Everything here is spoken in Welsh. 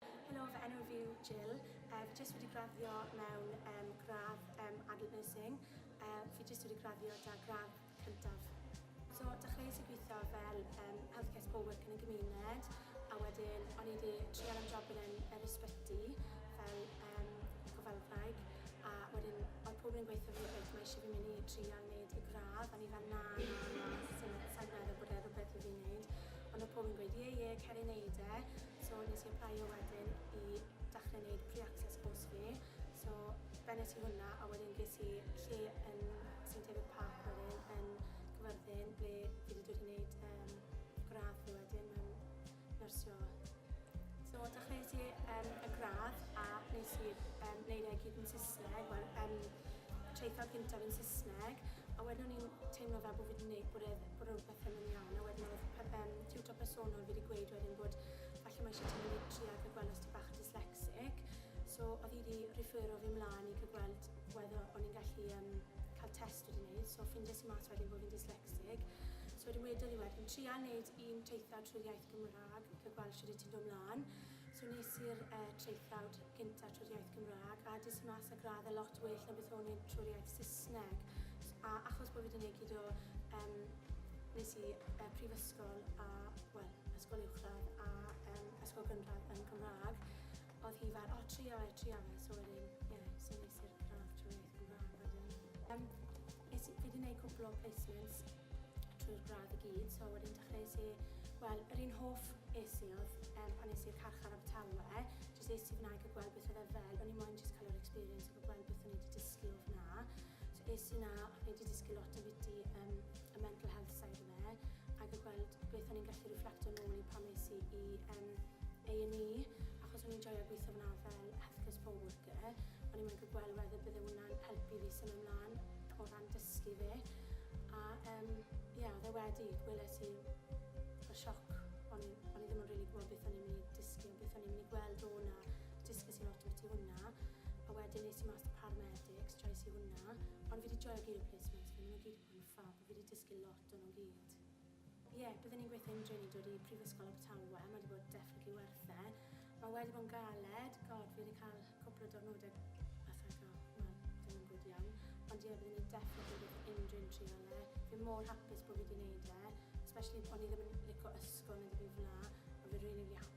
Helo, fy enw fi yw Jill. Fi jyst wedi graddio mewn gradd Adult Nursing. Fi jyst wedi graddio 'da gradd cyntaf. So, dechreuais i gweithio fel Healthcare Support Worker yn y gymuned, a wedyn o'n i 'di trial am job yn yr ysbyty fel gofalwraig, a wedyn oedd pobl yn gweithio fi beth mae eisiau fi mynd i trial wneud y gradd, o'n i fel na, na, na, sa i'n meddwl bod e rhywbeth i fi wneud, ond oedd pobl yn gweud ie, ie, cer i wneud e. So nes i aplaio wedyn i dechrau wneud pre-access course fi. So bennes i hwnna a wedyn ges i lle yn St David Park wedyn yn Cyfyrddin ble fi wedi dod i wneud um, gradd fi wedyn mewn nyrsio. So dechreuais i um, y gradd a nes i um, wneud e gyd yn Saesneg, wel um, traethau cyntaf yn Saesneg a wedyn o'n i'n teimlo fel bod fi wedi gwneud bod e, bod e rhywbeth ddim yn iawn. A wedyn oedd pe fe'n tiwtor personol fi wedi gweud wedyn bod falle mae eisiau tynnu litri fe gwelys ti bach dyslexic. So oedd hi wedi refero fi mlaen i cael gweld whether o'n i'n gallu um, cael test wedi wneud. So ffindies i mas wedyn bod fi'n dyslexic. So wedyn wedodd hi wedyn, trial wneud un teithio trwy'r iaith Gymraeg, cael gweld sydd wedi ti'n dod mlaen. So nes i'r yy traethawd gynta trwy'r iaith Gymraeg a des i mas â gradd e lot well na beth o'n i trwy'r iaith Saesneg a achos bo' fi 'di neud gyd o yym nes i yy prifysgol a wel ysgol uwchradd a yym ysgol gynradd yn Gymrâg odd hi fel o tria fe tria fe so wedyn ie so nes i'r gradd trwy iaith Gymrâg wedyn. Yym Es i... fi 'di neud cwpl o placements trwy'r gradd i gyd so wedyn dechreuais i... wel yr un hoff es i oedd um, pan es i'r carchar Abertawe jyst es i f'na i cael gweld beth oedd e fel o'n i moyn jyst cael yr experience o cael gweld beth o'n i wedi dysgu o f'na so es i 'na ac o'n i wedi dysgu lot o fiti um, y mental health side o fe a cael gweld beth o'n i'n gallu reflecto nôl i pan es i i um, A&E achos o'n i'n joio gweithio f'na fel healthcare support O'n i moyn cael gweld whether bydde hwnna'n helpu fi symud mlan o ran dysgu fi. A um, ie, oedd e wedi, weles i y sioc. O'n i, o'n i ddim yn rili gwybod beth o'n i'n mynd i dysgu o beth o'n i'n mynd i gweld o hwnna. Dysgu sy'n lot o beth i hwnna. A wedyn nes i mas da paramedics, trais i hwnna. Ond fi wedi joio gyd o placements fi, maen nhw gyd wedi bod yn ffab, a fi wedi dysgu lot o'n nhw gyd. Ie, bydden ni'n gweithio yn dre i dod i Prifysgol Abertawe, mae wedi bod definitely worth e. Mae wedi bod yn galed, god, fi wedi cael cwpl o diwrnodau fatha eitha, wel, dim yn gwyd iawn. Ond ie, bydden ni'n definitely yn gweithio yn dre yn trial e. Fi mor hapus bod fi wedi wneud e, especially o'n i ddim yn lico ysgol neu ddim byd fel 'na, ond fi rili, rili hapus.